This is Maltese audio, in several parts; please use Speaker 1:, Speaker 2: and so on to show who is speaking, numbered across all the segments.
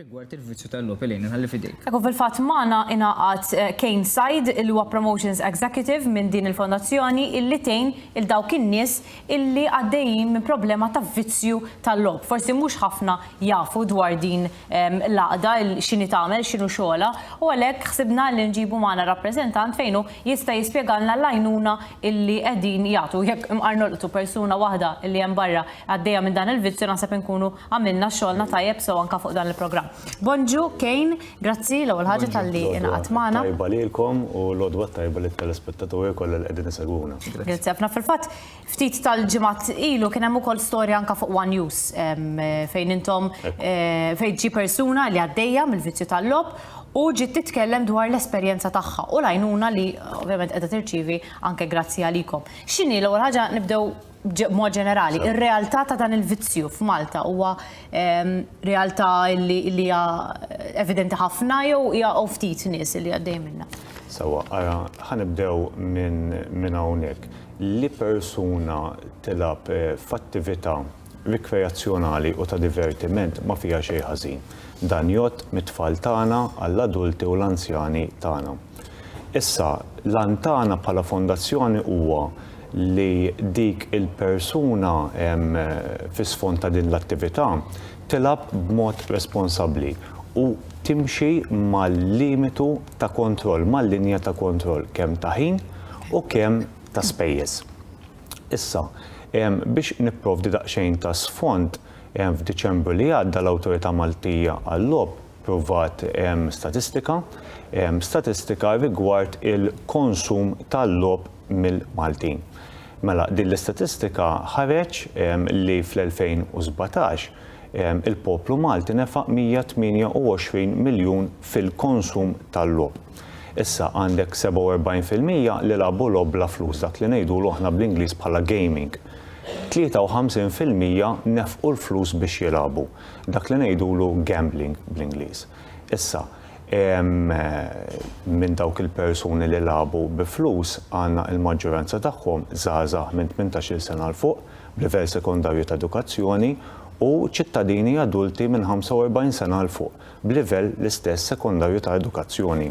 Speaker 1: rigward il-vizzju tal-logħob il inħalli fidejk. Ekku fil-fatt magħna
Speaker 2: ingħaqad eh, Kane Said il huwa Promotions Executive minn din il-fondazzjoni illi tejn il dawk in-nies illi għaddejjin minn problema ta' vizzju tal-logħob. Forsi mhux ħafna jafu dwar din l-għaqda x'inhi tagħmel, x'inhu xogħolha, u għalhekk ħsibna li nġibu magħna rappreżentant fejn hu jista' jispjegalna l-għajnuna illi qegħdin jagħtu. Jekk imqar nolqtu persuna waħda illi hemm barra għaddejja minn dan il-vizzju naħseb inkunu għamilna xogħolna tajjeb sew anke fuq dan il-programm. Bonġu, Kejn, grazzi l-ewwel ħaġa talli ingħaqadt magħna. Tajba lilkom u
Speaker 3: l-għodwa tajba lit-telespettaturi kollha li qegħdin isegwuna. Grazzi ħafna fil-fatt.
Speaker 2: Ftit tal-ġimgħat ilu kien hemm ukoll storja anka fuq One News fejn intom fejn ġi persuna li għaddejja mill-vizzju tal-lob u ġiet titkellem dwar l-esperjenza tagħha u l-għajnuna li ovvjament qiegħda tirċievi anke grazzi għalikom. X'inhi l-ewwel ħaġa nibdew b'mod ġenerali, ir-realtà ta' dan il-vizzju f'Malta huwa ehm, realtà li hija evidenti ħafna jew hija ftit nies li għaddej minnha? Sewwa, ara,
Speaker 3: ħanibdew minn hawnhekk. li persuna tilgħab f'attività rikreazzjonali u ta' divertiment ma fiha xejn ħażin. Dan jgħodd mit-tfal tagħna għall-adulti u l-anzjani tagħna. Issa, l-għan tagħna bħala Fondazzjoni huwa li dik il-persuna fi sfond ta' din l-attività tilgħab b'mod responsabbli u timxi mal-limitu ta' kontroll, mal-linja ta' kontroll kemm ta' ħin u kemm ta' spejjeż. Issa, biex nipprovdi daqsxejn ta' sfond, f'Diċembru li għadda l-Awtorità Maltija għal-Logħob Pprovat statistika, statistika rigward il-konsum tal-logħob mill-Maltin. Mela, din l-istatistika ħareġ li fl-2017 il-poplu Malti nefaq 128 miljun fil-konsum tal-logħob. Issa għandek 47 fil-mija li lagħbu logħob bla flus, dak li ngħidulu aħna bl-Ingliż bħala gaming. 53 fil-mija nefqu l-flus biex jilagħbu. Dak li ngħidulu gambling bl-Ingliż. Issa, minn dawk il-persuni li lagħbu bi flus għandna l-maġġoranza tagħhom żgħażagħ minn tmintax-il sena 'l fuq, b'livell sekondarju ta' edukazzjoni, u ċittadini adulti minn 45 sena 'l fuq, b'livell l-istess sekondarju ta' edukazzjoni.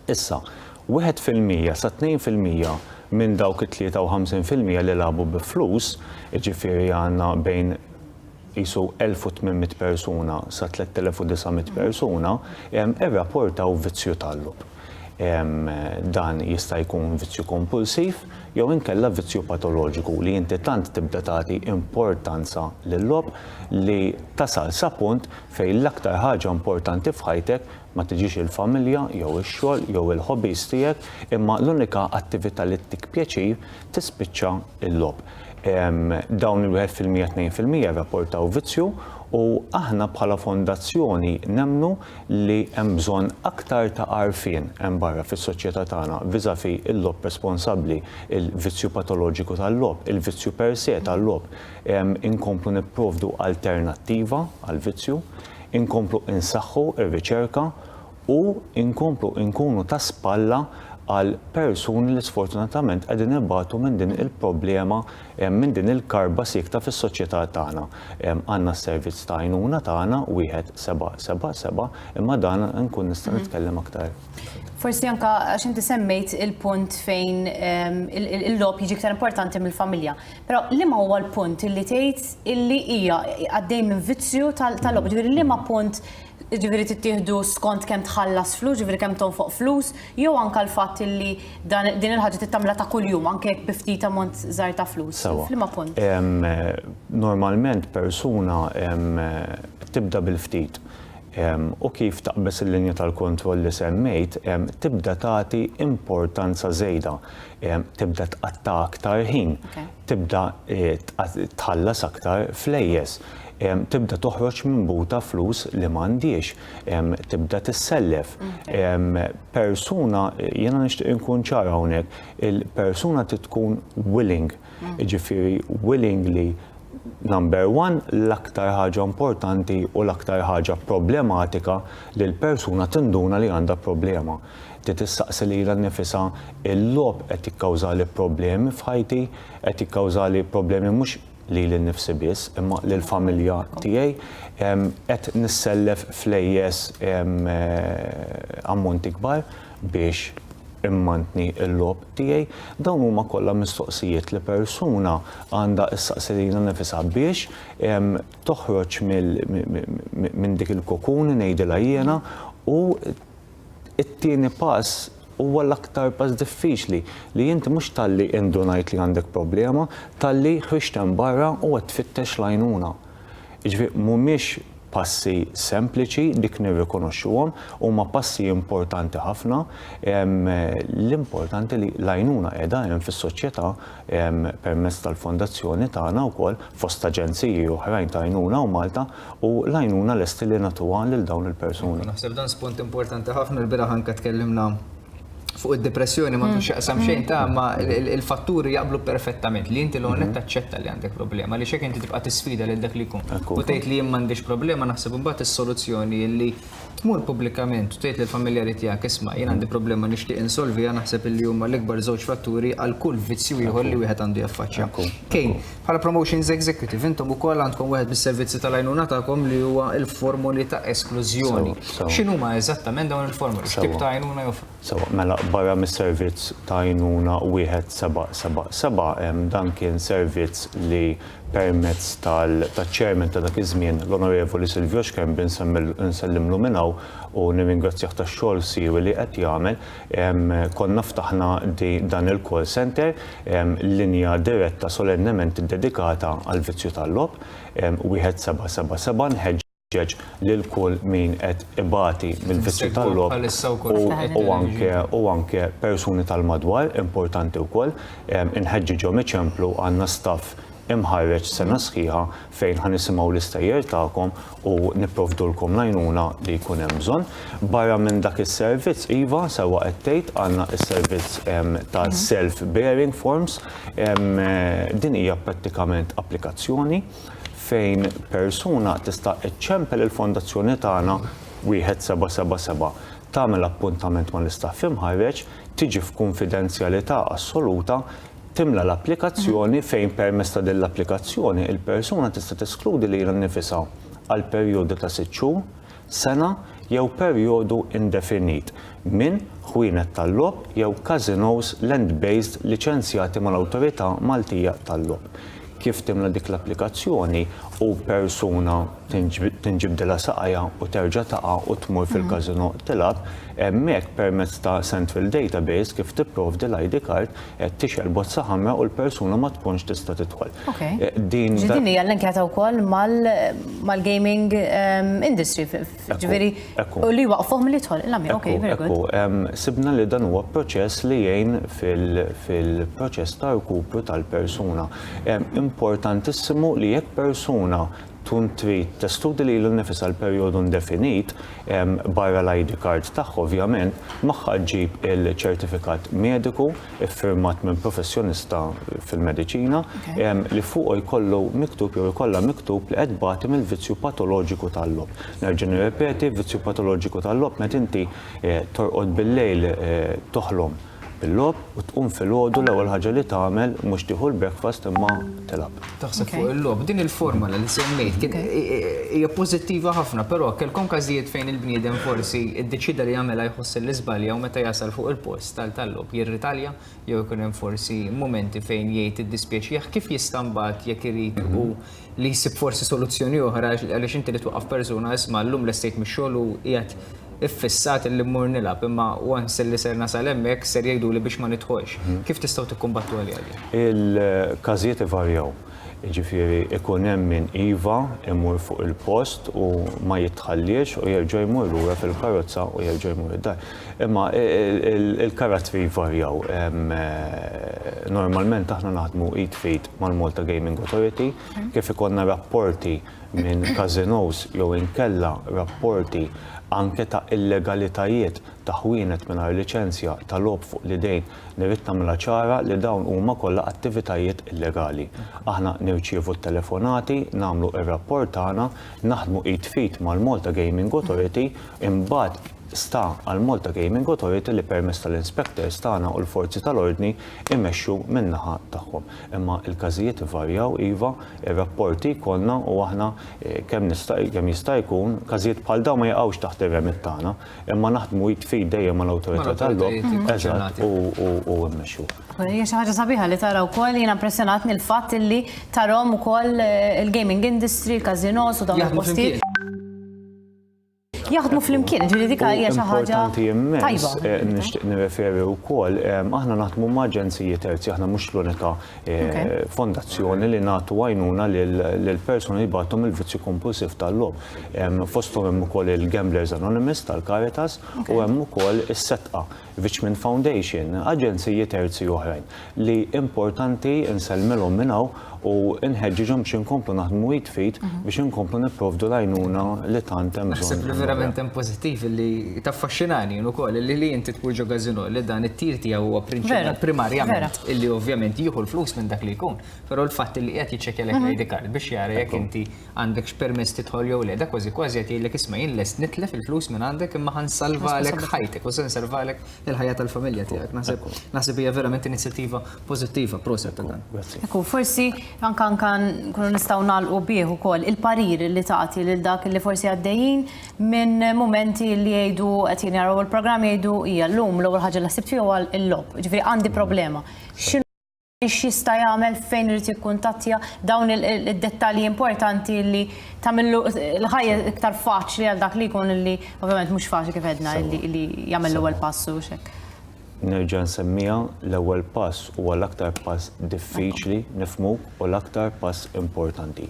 Speaker 3: Issa, wieħed fil-mija sa tnejn fil-mija minn dawk it-tlieta u ħamsin fil-mija li lagħbu bi flus, jiġifieri għandna bejn qisu elf u tmien mitt persuna sa tlett elef u disa' mitt persuna, irrapportaw vizzju tal-logħob. Dan jista' jkun vizzju kompulsiv jew inkella vizzju patoloġiku li inti tant tibda tagħti importanza lil-logħob li tasal sa punt fejn l-aktar ħaġa importanti f'ħajtek Ma tiġix il-familja jew ix-xogħol jew il-hobbies tiegħek imma l-unika attività li ttik pjaċir tispiċċa l-logħob. Dawn il-wieħed fil-mija tnejn fil-mija jirrapportaw vizzju u aħna bħala fondazzjoni nemmnu li hemm bżonn aktar ta' għarfien hemm barra fis-soċjetà tagħna viżavi l-logħob responsabbli, il-vizzju patoloġiku tal-logħob, il-vizzju per se tal-logħob. Inkomplu nipprovdu alternattiva għall-vizzju. inkomplu insaħħu r-riċerka u nkomplu nkunu ta' spalla għal persuni li sfortunatament qegħdin ibatu minn din il-problema, minn din il-karba siekta fis-soċjetà tagħna. Għandna s-servizz ta' għajnuna tagħna, wieħed seba' seba' seba', imma dan nkun nista' nitkellem aktar. Forsi anka
Speaker 2: għax inti semmejt il-punt fejn il-lob jiġi iktar importanti mill-familja. Però liema huwa l-punt illi tgħid illi hija għaddej minn vizzju tal-logħba, ġifieri liema punt ġifieri tittieħdu skont kemm tħallas flus, ġifieri kemm tonfoq flus, jew anke l-fatt illi din il-ħaġa trid tagħmilha ta' kuljum anke jekk bi ftit ammont żgħir ta' flus. F'liema punt?
Speaker 3: Normalment persuna tibda bil-ftit u kif taqbeż il-linja tal-kontroll li semmejt tibda tagħti importanza żejda. tibda tqatta' aktar ħin, tibda tħallas aktar flejjes, tibda toħroġ minn buta flus li ma għandhiex, tibda tissellef. Persuna, jiena nixtieq inkun ċar hawnhekk, il-persuna trid tkun willing, jiġifieri willing li number one l-aktar ħaġa importanti u l-aktar ħaġa problematika li l-persuna tinduna li għandha problema. Trid issaqsi lilha nnifisha, 'Il-logħob qed jikkawżali problemi f'ħajti? Qed jikkawżali problemi mhux lili nnifsi biss, imma lill-familja tiegħi? Qed nissellef flejjes ammonti kbar biex immantni l-logħob tiegħi? Dawn huma kollha mistoqsijiet li persuna għandha ssaqsi lilha nnifisha biex toħroġ minn dik il-kokun, ngħidilha jiena, u It-tieni pass huwa l-aktar pass diffiċli, li int mhux talli indunajt li għandek problema, talli ħriġt hemm barra u qed tfittex l-għajnuna. Jiġifieri mhumiex passi sempliċi, dik nirrikonoxxuhom, huma passi importanti ħafna, l-importanti li l-għajnuna qiegħda hemm fis-soċjetà permezz tal-Fondazzjoni tagħna wkoll, fost aġenziji oħrajn ta' għajnuna u Malta, u l-għajnuna lesti li nagħtuha lil dawn il-persuni. Naħseb dan spunt importanti
Speaker 1: ħafna, l-bieraħ anke tkellimna fuq id-dipressjoni, m'għandu x'jaqsam xejn ta' ma' il-fatturi jaqblu perfettament li inti l-ewwel nett taċċetta li għandek problema, għaliex jekk inti tibqa' tisfida lil dak li jkun u tgħid li jien m'għandix problema naħseb imbagħad is-soluzzjoni li tmur pubblikament u tgħid lill-familjari tiegħek isma' jien għandi problema nixtieq insolviha naħseb illi huma l-ikbar żewġ fatturi għal kull vizzju ieħor li wieħed għandu jaffaċċja. Kane, bħala Promotions Executive intom ukoll għandkom wieħed mis-servizzi tal-għajnuna tagħkom li huwa l-formoli ta' esklużjoni. X'inhuma eżattament dawn il-formoli? X'tip ta' għajnuna joffru? Sewwa, mela barra
Speaker 3: mis-servizz ta' għajnuna 1777, dan kien servizz li permezz taċ-Chairman ta' dak iż-żmien, l-Onorevoli Silvio Schembri, nsellimlu minn hawn u nirringrazzjah tax-xogħol siewi li qed jagħmel, konna ftaħna dan il-call centre, linja diretta solennement iddedikata għall-vizzju tal-logħob, 1777, nħeġġeġ, inħeġġeġ lil kull min qed ibati mill-vizzju tal-logħob u anke u anke persuni tal-madwar importanti wkoll inħeġġiġhom iċemplu għandna staff imħarreġ sena sħiħa fejn ħa nisimgħu l-istejjer tagħkom u nipprovdulkom l-għajnuna li jkun hemm bżonn. Barra minn dak is-servizz iva sewwa qed tgħid għandna s-servizz ta' self-bearing forms din hija prattikament applikazzjoni fejn persuna tista' ċċempel il-Fondazzjoni tagħna wieħed seba' seba' seba', tagħmel appuntament mal-istaff imħarreġ, tiġi f'kunfidenzjalità assoluta, timla l-applikazzjoni fejn permezz ta' din l-applikazzjoni il-persuna tista' teskludi lilha nnifisha għal perjodu ta' sitt xhur, sena jew perjodu indefinit, minn ħwienet tal-logħob jew każinòs land-based liċenzjati mal-Awtorità Maltija tal-Logħob. Kif timla dik l-applikazzjoni u persuna tinġibdilha saqajha u terġa' taqa' u tmur fil-każinò tilgħab, hemmhekk permezz ta' central database kif tipprovdi l-ID card, qed tixgħel bozza ħamra u l-persuna ma tkunx tista' tidħol. Eh, din
Speaker 2: din hija l-inkjata wkoll mal-gaming ehm, industry, ġifieri u li waqfuhom li jidħol il-lamja. Okay, very good. Ehm, sibna li dan huwa
Speaker 3: proċess li jgħin fil-proċess ta' rkupru tal-persuna. Ehm, importantissimu li jekk persuna tkun trid testudi lilha nnifisha għal perjodu indefinit, barra l-ID card tagħha ovvjament, magħha ġġib il-ċertifikat mediku ffirmat minn professjonista fil-mediċina li fuqu jkollu miktub jew ikollha miktub li qed tbati mill-vizzju patoloġiku tal-logħob. Nerġa' nirrepeti, vizzju patoloġiku tal-logħob meta inti torqod bil-lejl toħlom bil-logħob u tqum filgħodu l-ewwel ħaġa li tagħmel mhux tieħu l-breakfast imma tilgħab. Taħseb fuq il-logħob.
Speaker 1: Din il-formola li semmejt kien hija pożittiva ħafna però kellkom każijiet fejn il-bniedem forsi ddeċieda li jagħmilha jħossha li żbalja u meta jasal fuq il-post tal-logħob jirritalja jew ikun hemm forsi mumenti fejn jgħid iddispjaċih kif jista' mbagħad jekk irid hu li jsib forsi soluzzjoni oħra għaliex inti li twaqqaf persuna isma' llum lestejt mix-xogħol u qiegħed iffissat illi mmur nilgħab imma once illi ser nasal hemmhekk ser jgħiduli biex ma nidħolx. Kif tistgħu tikkumbattu għaliha din? Il-każijiet
Speaker 3: ivarjaw. Jiġifieri ikun hemm min iva jmur fuq il-post u ma jitħalliex u jerġa' jmur lura fil-karozza u jerġa' jmur id-dar. Imma il-karattri jvarjaw. Normalment aħna naħdmu id f'id mal-Malta Gaming Authority, kif ikollna rapporti minn casinos jew inkella rapporti anke ta' illegalitajiet ta' ħwienet mingħajr liċenzja ta' logħob fuq l-idejn, nirrid nagħmilha ċara li dawn huma kollha attivitajiet illegali. Aħna nirċievu t-telefonati, nagħmlu r-rapport tagħna, naħdmu id f'id mal-Malta Gaming Authority, imbagħad, Sta għall-Malta Gaming Authority li permezz tal-inspectors tagħna u l-forzi tal-ordni jmexxu min-naħa tagħhom. Imma l-każijiet ivarjaw iva, ir-rapporti jkollna u aħna kemm nista' kemm jista' jkun każijiet bħal dawn ma jaqgħux taħt ir-remit tagħna, imma naħdmu id f'id dejjem mal-awtorità tal-logħob. Eżatt, u u mmexxu. Hija xi ħaġa sabiħa
Speaker 2: li tara wkoll, jiena impressjonatni l-fatt illi tarahom ukoll il-gaming industry, il-każinos u dawn il-postijiet. jaħdmu flimkien, ġifieri dik hija xi ħaġa tajba. Eh, nixtieq
Speaker 3: nirreferi wkoll aħna naħdmu ma' aġenziji terzi, aħna mhux l-unika eh, fondazzjoni li nagħtu għajnuna lil persuni li bagħthom il-vizzju kompulsiv tal-lob. Fosthom hemm ukoll il-Gamblers Anonymous tal-Caritas u hemm ukoll is-setqa Vichman Foundation, aġenziji terzi oħrajn li importanti nsellmilhom minn hawn u nħeġġiġhom biex inkomplu naħdmu id f'id biex inkomplu nipprovdu l-għajnuna li tant hemm bżonn. Naħseb li verament hemm pożittiv
Speaker 1: li taffaxxinani jien ukoll li li inti tmur ġo Gazino li dan it-tir tiegħu huwa prinċipal primarjament illi ovvjament jieħu l-flus minn dak li jkun, però l-fatt li qiegħed jiċċekkjalek l-ID card biex jara jekk inti għandekx permess tidħol jew le, da kważi kważi qed jgħidlek isma' jien lest nitlef il-flus minn għandek imma ħa nsalvalek ħajtek u se nsalvalek il-ħajja tal-familja tiegħek. Naħseb naħseb hija verament inizjattiva pożittiva proset ta' dan. Ekku, forsi
Speaker 2: anke anke nkunu nistgħu nagħlqu bih ukoll il-parir li tagħti lil dak li forsi għaddejjin minn mumenti li jgħidu qed jien jaraw il-programm jgħidu hija llum l-ewwel ħaġa li ħsibt fih huwa l-logħob. Ġifieri għandi problema. x'jista' jagħmel, fejn irid jikkuntattja, dawn id-dettalji importanti li tagħmillu l-ħajja iktar faċli għal dak li jkun li ovvjament mhux faċli kif għedna li jagħmel l-ewwel pass u x'hekk. Nerġa'
Speaker 3: nsemmiha, l-ewwel pass huwa l-aktar pass diffiċli nifhmu u l-aktar pass importanti.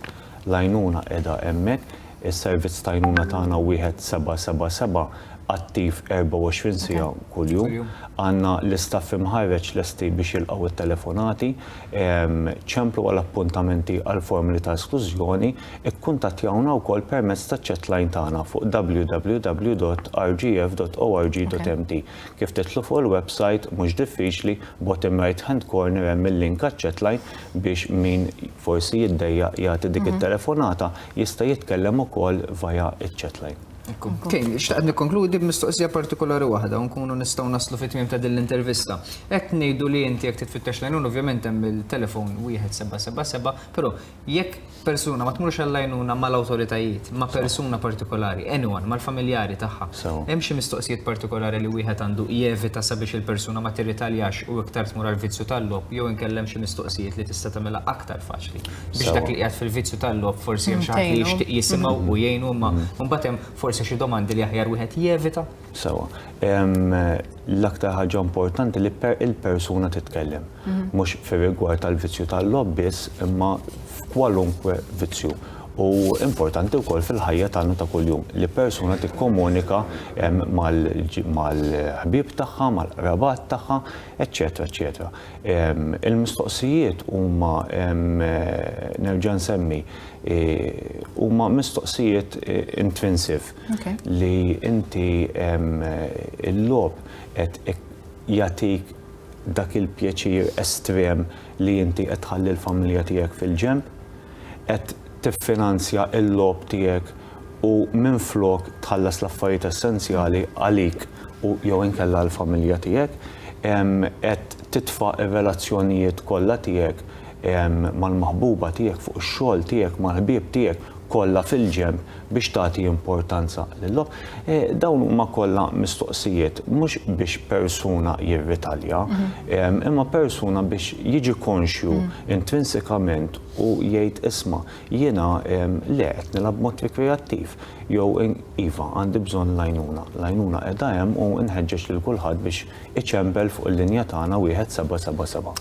Speaker 3: L-għajnuna qiegħda hemmhekk. Is-servizz ta' għajnuna tagħna wieħed seba' seba' seba' attiv 24 siegħa kuljum. Għandna l-istaff imħarreġ lesti biex jilqgħu t-telefonati. Ċemplu għal appuntamenti għall-formoli ta' esklużjoni. Ikkuntattjawna wkoll permezz taċ-chatline tagħna fuq www.rgf.org.mt. Kif tidħlu fuq il-websajt mhux diffiċli, bottom right hand corner hemm il-link għaċ-chatline biex min forsi jiddejjaq jagħti dik it-telefonata jista' jitkellem ukoll via iċ-chatline. Tgħinni,
Speaker 1: xtaqt nikkonkludi b'mistoqsija partikolari waħda u nkunu nistgħu naslu fit-tmiem ta' din l-intervista. Qed ngħidu li inti jekk trid tfittex l-għajnuna ovvjament hemm il-telefon 1777, però jekk Persuna ma tmurx għall-għajnuna mal-awtoritajiet, ma' persuna partikolari, anyone, mal-familjari tagħha. Hemm xi mistoqsijiet partikolari li wieħed għandu jevita sabiex il-persuna ma tirritaljax u iktar tmur għall-vizzju tal-logħob jew inkella hemm xi mistoqsijiet li tista' tagħmilha aktar faċli biex dak li qiegħed fil-vizzju tal-logħob forsi hemm xi ħadd li jixtieq jisimgħu u jgħinu imma mbagħad hemm forsi xi domandi li aħjar wieħed jevita? Sewwa.
Speaker 3: L-aktar ħaġa importanti li il-persuna titkellem. Mhux fir-rigward tal-vizzju tal-logħob biss, imma f'kwalunkwe vizzju. U importanti wkoll fil-ħajja tagħna ta' kuljum li persuna tikkomunika mal-ħbieb tagħha, mal-qrabat tagħha, eċċetera eċċetera. Il-mistoqsijiet huma nerġa' nsemmi huma mistoqsijiet intrinsive. li inti il-logħob qed jagħtik dak il-pjaċir estrem li inti qed tħalli l-familja tiegħek fil-ġenb, qed tiffinanzja l-logħob tiegħek u minflok tħallas l-affarijiet essenzjali għalik u jew inkella għall-familja tiegħek, qed titfa' r-relazzjonijiet kollha tiegħek mal-maħbuba tiegħek fuq ix-xogħol tiegħek mal-ħbieb tiegħek kollha fil-ġenb. biex tagħti importanza lil-logħob. Eh, dawn huma kollha mistoqsijiet mhux biex persuna jirritalja, mhm. imma persuna biex jiġi konxju mhm. intrinsikament u jgħid isma' jiena le qed nilgħab mod rikreattiv jew iva għandi bżonn lajnuna. Lajnuna qiegħda hemm u nħeġġeġ lil kulħadd biex iċempel fuq il-linja tagħna wieħed seba' seba' seba'.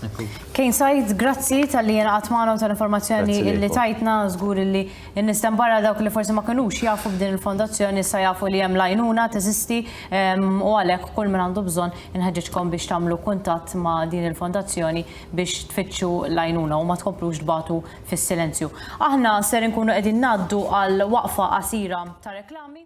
Speaker 3: Kejn sajt,
Speaker 2: grazzi tal-li jenqat magħna u tal-informazzjoni li tajtna żgur li In-nies t'hemm barra dawk li forsi ma kinux jafu b'din il-fondazzjoni issa jafu li hemm l-għajnuna teżisti u għalhekk kull min għandu bżonn inħeġġiġkom biex tagħmlu kuntatt ma' din il-fondazzjoni biex tfittxu l-għajnuna u ma tkomplux tbatu fis-silenzju. Aħna ser inkunu qegħdin ngħaddu għal waqfa qasira ta' reklami.